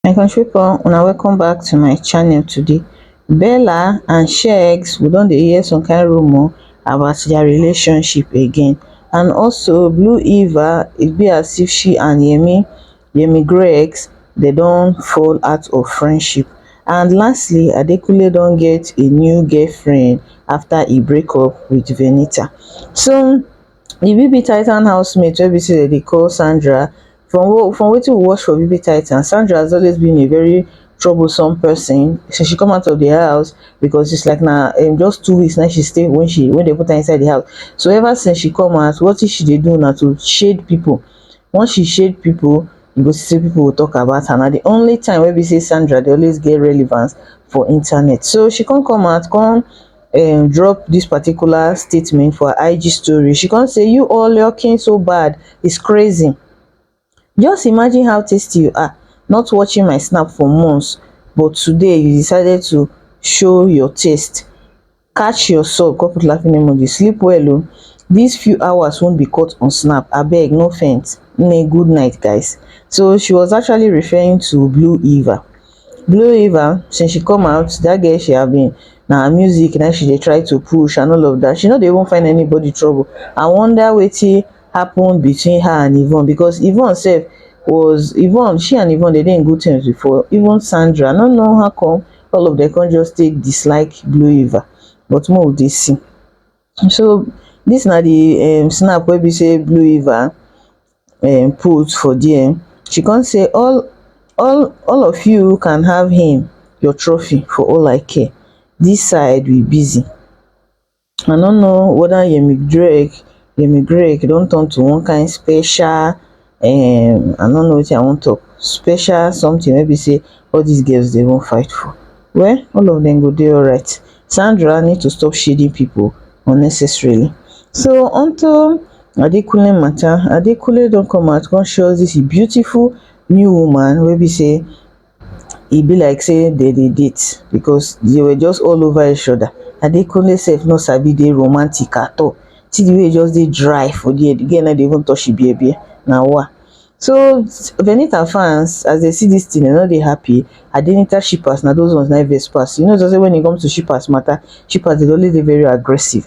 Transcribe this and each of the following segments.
my country people una welcome back to my channel today bella and shegs we don dey hear some kind rumor about their relationship again and also blue eva it be as if she and yemi yemi grex dey don fall out of friendship and lastly adekunle don get a new girlfriend afta e break up wit venita so di bb titan housemate wey be say dem dey call sandra from from wetin we watch for bb titan sandra has always been a very troublesome person since she come out of di house becos is like na um just two weeks na im she stay wen she wen dem put her inside di house so ever since she come out watin she dey do na to shade pipo once she shade pipo you go see say pipo go tok about her na di only time wey be say Sandra dey always get relevance for internet so she come come out come um drop dis particular statement for her IG story she come say you all looking so bad is crazy just imagine how tasty you are not watching my snap for months but today you decided to show your taste catch your sob come put laughing emoji sleep well o this few hours won't be cut on snap abeg no faint nne good night guys so she was actually referring to blue eva blue eva since she come out that girl she have been na her music na she dey try to push and all of that she no dey even find anybody trouble i wonder wetin happen between her and yvonne because yvonne sef was yvonne she and yvonne dey dey in good terms before even sandra i no know how come all of them come just take dislike blue eva but more of dey see so this na the um, snap wey be say blue eva um, put for there she come say all all all of you can have him your trophy for all i care this side we busy I no know whether Yemi Drake, Yemi Drake don turn to one kind special, um, I no know wetin I wan talk, special something wey be say all these girls dey even fight for. Well, all of them go dey alright. Sandra need to stop shading people unnecessarily. So onto Adekunle matter, Adekunle don come out come show us this beautiful new woman wey be say e be like say dem dey date because they were just all over each other. Adekunle sef no sabi dey romantic at all. See the way he just dey dry for there. The girl no dey even touch him bear bear. Na wa. So, Venita fans, as they see this thing, they no dey happy. Adenita shippers, na those ones na im vex pass. You know just say when it comes to shippers matter, shippers dey always dey very aggressive.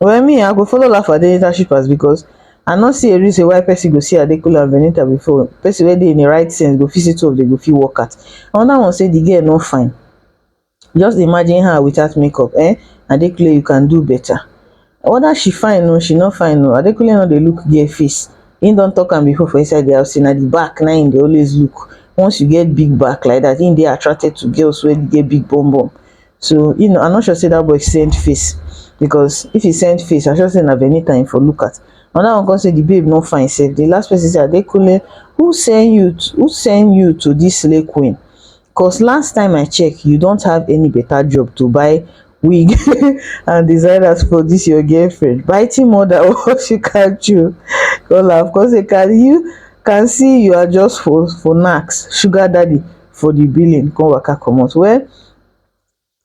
Well me I go follow laugh at Adenita shippers because I no see a reason why person go see Adekunle and Benita before person wey dey in the right sense go fit see two of them go fit work out. Another one say the girl no fine. Just imagine her without makeup eh Adekunle you can do better. Whether she fine o she no fine o Adekunle no dey look girl face him don talk am before for inside the house say na the back na him dey always look once you get big back like that him dey attracted to girls wey get big bum bum So, you know, I'm not sure say that boy send face because if he send face, I sure say na Venita him for look at. And that one come say the babe no fine safe. The last person say Adekunle, who send you to, who send you to this slay queen? Cause last time I check, you don't have any better job to buy wig and designers for this your girlfriend. Biting mother, what she can chew. Call her, of course, they can you can see you are just for for knacks, sugar daddy for the billing, come waka comot. Well,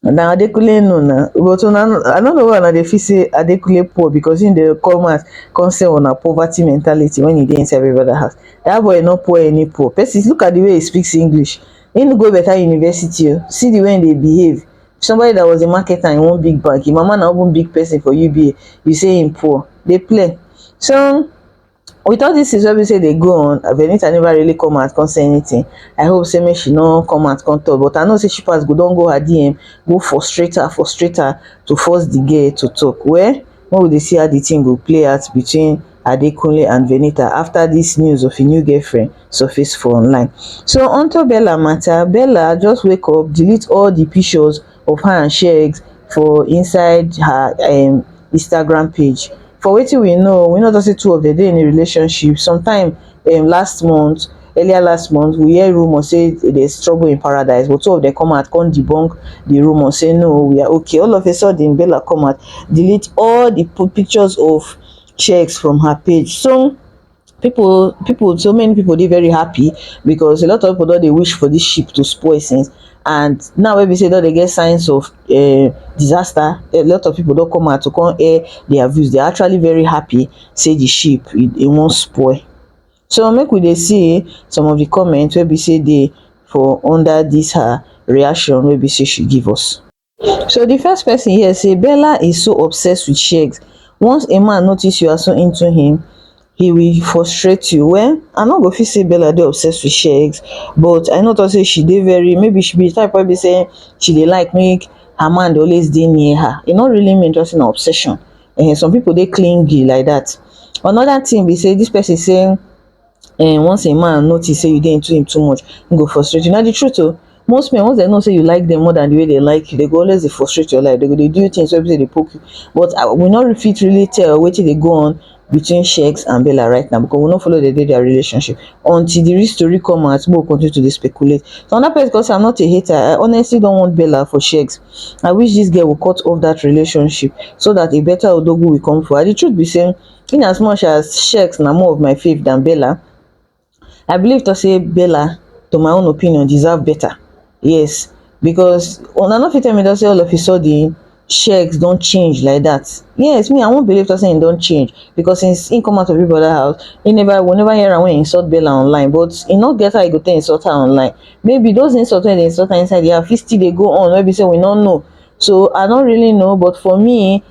na adekunle know na but una i no know why una dey feel say adekunle poor because him dey come house come sell una poverty mentality when he dey inside every brother house that boy no poor any poor person look at the way he speaks english he no go better university o see the way he dey behave somebody that was a marketer in one big bank him mama na even big person for uba you say him poor dey play so with all these things wey be say dey go on Venita never really come out come say anything I hope say make she no come out come talk but I know say Shipas go don go her DM go frustrate her frustrate her to force the girl to talk well make we dey see how the thing go play out between Adekunle and Venita after this news of a new girlfriend surface for online so onto Bella matter Bella just wake up delete all the pictures of her and shegs for inside her um instagram page for wetin we know we no tok say two of dem dey in a relationship sometime um last month earlier last month we hear rumour say there's trouble in paradise but two of them come out come debunk the rumour say no we are okay all of a sudden Bella come out delete all the pictures of checks from her page so people people so many people dey very happy because a lot of people don dey wish for this ship to spoil since and now wey be say don dey get signs of uh, disaster a lot of people don come out to come air their views they're actually very happy say the ship it, it won't spoil so make we dey see some of the comments wey be say dey for under this her reaction wey be say she give us So the first person here say Bella is so obsessed with Shegs. Once a man notice you are so into him, he will frustrate you. Well, I no go fit say Bella dey obsessed with Shegs, but I know to say she dey very maybe she be the type wey be say she dey like make her man dey always dey near her. E no really mean just an obsession. Uh, some people dey clingy like that. Another thing be say this person say um once a man notice say you dey into him too much he go frustrate you na the truth o most men once dem know say you like dem more than the way dem like you dem go always dey frustrate your life dem go dey do you things wey be say dey poke you but um we no fit really tell wetin dey go on between Shex and Bella right now because we no follow dem dey their relationship until the real story come out make we continue to dey speculate so another person come say I'm not a hater I honestly don't want Bella for Shex I wish this girl will cut off that relationship so that a better Odogwu will come for her the truth be say in as much as Shex na more of my fav than Bella, I believe to say Bella, to my own opinion, deserve better. Yes, because una no fit tell me to say all of a sudden Shex don change like that. Yes, me I won't believe to say he don change because since he come out of people other house, he never we never hear am when he insult Bella online, but he no get how he go take insult her online. Maybe those insults wey dey insult her inside the house fit still dey go on wey be say we no know. So I don't really know, but for me,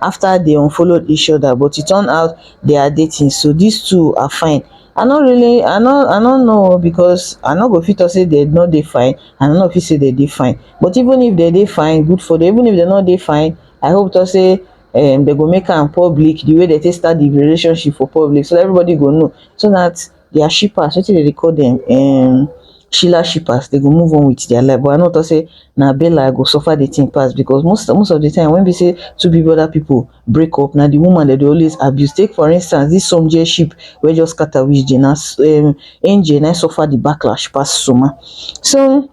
after they unfollowed each other but it turned out they are dating so these two are fine i no really i no i no know because i no go fit talk say they no dey fine and i no fit say they dey fine but even if they dey fine good for them even if they no dey fine i hope to say um they go make am public the way they take start the relationship for public so everybody go know so that their shippers wetin dem dey call dem um shiller shippers dem go move on with their life but i no talk say na bella go suffer the thing pass because most most of the time when be say two big brother people break up na the woman dem dey always abuse take for instance this somjie ship wey just scatter with jane na um angel na him suffer the backlash pass soma so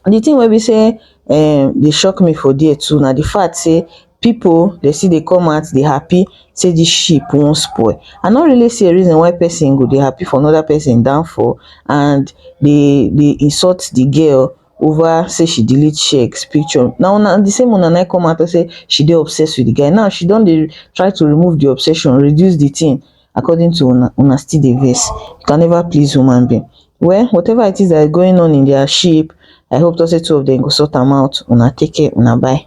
the thing wey be sey um dey shock me for there too na the fact sey people dey still dey come out dey happy sey this ship wan spoil i no really see a reason why person go dey happy for another person downfall and dey dey insult the girl over sey she delete shex picture na una the same una na im come out talk sey she dey obsessed with the guy now she don dey try to remove the obsession reduce the thing according to una una still dey vex you can never please human being well whatever it is that is going on in their ship i hope to say two of them go sort am out una take care una bye